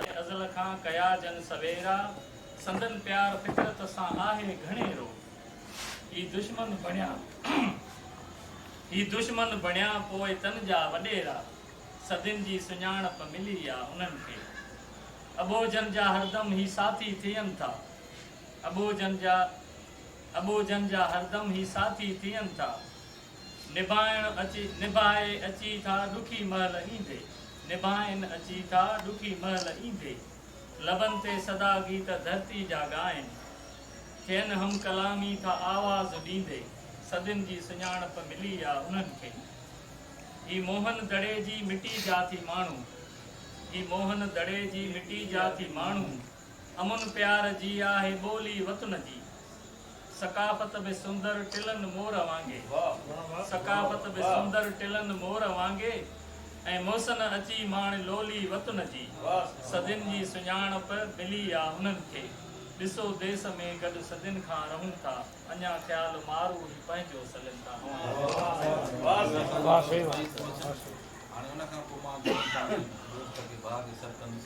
ڪي ازل کان ڪيا جن سويرا، سندن پيار فطرت سان آهي گهڻي رو. هي دشمن بڻيا هي دشمن بڻيا پوء تن جا وڏيرا، صدين جي سڃاڻپ ملي آ انهن کي. اٻوجهن جا هردم هي ساٿي ٿين ٿا، اٻوجهن جا اٻوجهن جا هردم هي ساٿي ٿين ٿا، نڀائڻ اچي، نڀائي اچي ٿا ڏکي مهل ايندي، نڀائين اچي ٿا ڏکي مهل ايندي، لبن تي سدا گيت ڌرتي جا ڳائين، ٿين هم ڪلامي ٿا آواز ڏيندي، صدين جي سڃاڻپ ملي آ انهن کي، هي موهن دڙي جي مٽي جا ٿي ماڻهو، هي موهن دڙي جي مٽي جا ٿي ماڻهو. امن پيار جي آهي ٻولي وطن جي ثقافت به سندر ٽلن مور وانگي ثقافت به سندر ٽلن مور وانگي ۽ محسن اچي ماڻ لولي وطن جي صدين جي سڃاڻپ ملي آ هنن کي ڏسو ديس ۾ گڏ صدين کان رهون ٿا اڃا خيال مارو هي پنهنجو سلين ٿا هاڻي ان کان پوء مان ڀائن سان گڏ دوست کي باغ سرڪندس.